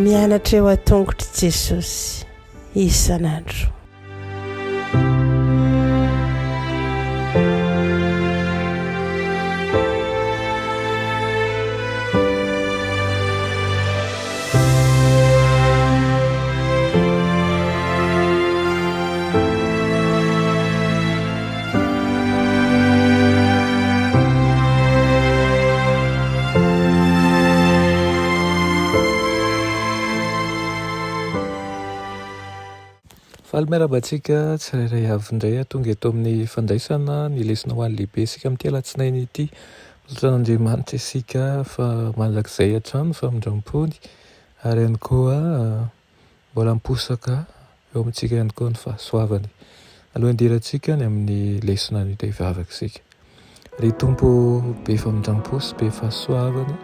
Mianatra eo an-tongotr'i Jesosy isan'andro. Faly miarahaba antsika tsirairay avy indray tonga eto amin'ny fandraisana ny lesona ho an'ny lehibe isika amin'ity alatsinainy ity. Lazain'Andriamanitra isika fa mandrakizay hatrany ny famindrampony, ary ihany koa mbola miposaka eo amintsika ihany koa ny fahasoavany. Alohan'ny hidirantsika any amin'ny lesona anio dia hivavaka isika. Ry Tompo be famindrampo sy be fahasoavana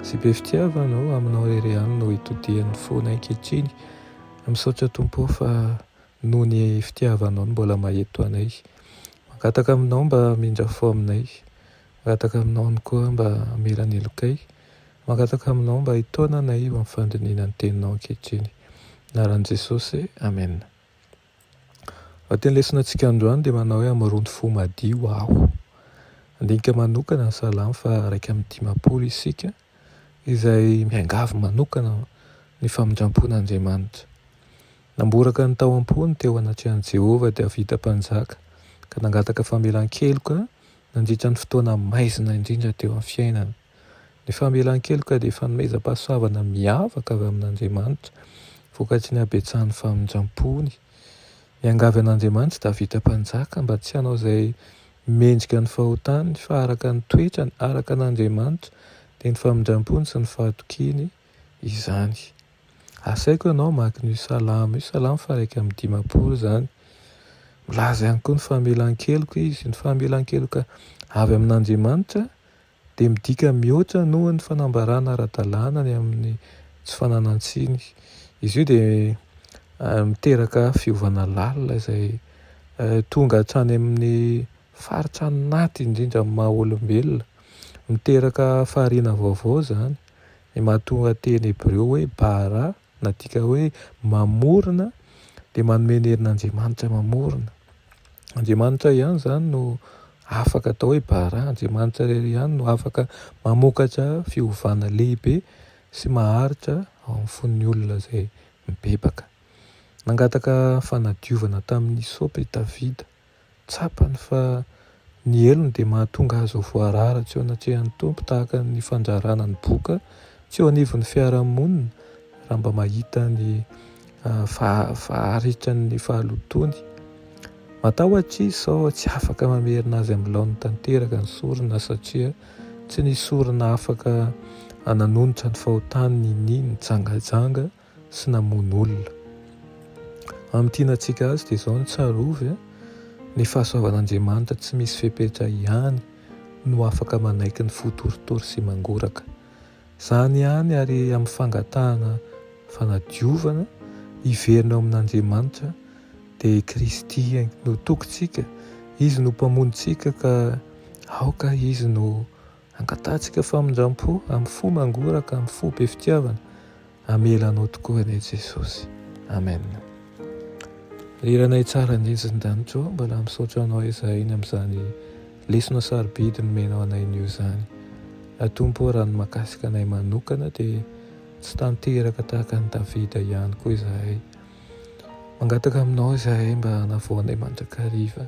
sy be fitiavana ô, aminao irery ihany no itodihan'ny fonay ankehitriny. Misaotra Tompo ô fa Noho ny fitiavanao no mbola maheto anay. Mangataka aminao mba hamindra fo aminay. Mangataka aminao ihany koa mba hamela ny helokay. Mangataka aminao mba hitaona anay eo amin'ny fandinihina ny teninao ankehitriny. Anaran'i Jesosy, Amen. Anatin'ny lesona antsika androany dia manao hoe hamoron'ny fo madio aho. Handinika manokana ny salamo faha iraika amby dimampolo isika izay miangavy manokana ny famindram-pon'Andriamanitra. Namboraka ny tao am-pony teo anatrehan'i Jehovah Davida Mpanjaka, ka nangataka famelan-keloka nandritra ny fotoana maizina indrindra teo amin'ny fiainany. Ny famelan-keloka dia fanomezam-pahasoavana miavaka avy amin'Andriamanitra, vokatry ny habetsahan'ny famindram-pony. Miangavy an'Andriamanitra i Davida Mpanjaka mba tsy hanao izay mendrika ny fahotany fa araka ny toetrany, araka an'Andriamanitra, dia ny famindrampony sy ny fahatokiany izany. Asaiko ianao hamaky an'io salamo io, salamo faha-iraika amby dimampolo izany. Milaza ihany koa ny famelan-keloka izy, ny famelan-keloka avy amin'Andriamanitra dia midika mihoatra noho ny fanambarana ara-dalàna ny amin'ny tsy fananan-tsiny. Izy io dia miteraka fiovana lalina izay tonga hatrany amin'ny faritra anaty indrindra amin'ny maha olombelona. Miteraka fahariana vaovao izany, ny mahatonga teny hebreo hoe bara, Nadika hoe mamorona dia manome ny herin'Andriamanitra mamorona. Andriamanitra ihany izany no afaka atao hoe bara, Andriamanitra irery ihany no afaka mamokatra fiovana lehibe sy maharitra ao amin'ny fon'ny olona izay mibebaka. Nangataka fanadiovana tamin'ny hisopa i Davida. Tsapany fa ny helony dia mahatonga azy ho voarara tsy eo anatrehan'ny Tompo tahaka ny fandrarana ny boka tsy eo anivon'ny fiarahamonina raha mba mahita ny faharitany ny fahalotoany. Matahotra izy sao tsy afaka mamerina azy amin'ny laoniny tanteraka ny sorona satria tsy nisy sorona afaka nanonitra ny fahotany ny nitsangajanga sy namono olona. Amin'ny tianantsika azy dia izao no tsarovy a! Ny fahasoavan'Andriamanitra tsy misy fepetra ihany no afaka manaiky ny fo torotoro sy mangoraka. Izany ihany ary amin'ny fangatahana fanadiovana hiverina ao amin'Andriamanitra dia i Kristy no tokintsika, Izy no Mpamonjintsika ka aoka Izy no Angatahantsika famindram-po amin'ny fo mangoraka, amin'ny fo be fitiavana, hamela anao tokoa anie Jesosy. Amen. Ry Ranay tsara ny ezindanitra ô, mbola misaotra anao ezahiny amin'izany lesona sarobidy nomenao anay nio izany. A Tompo ô, raha ny mahakasika anay manokana dia tsy tanteraka tahaka an'i Davida ihany koa izahay. Mangataka aminao izahay mba hanavao anay mandrakariva.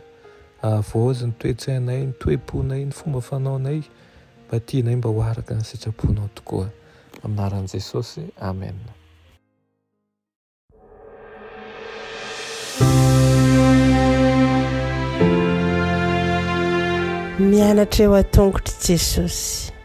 Ahavaozy ny toe-tsainay, ny toe-ponay, ny fomba fanaonay mba tianay mba ho araka ny sitraponao tokoa. Amin'ny anaran'i Jesosy, amen. Mianatra eo an-tongotr'i Jesosy.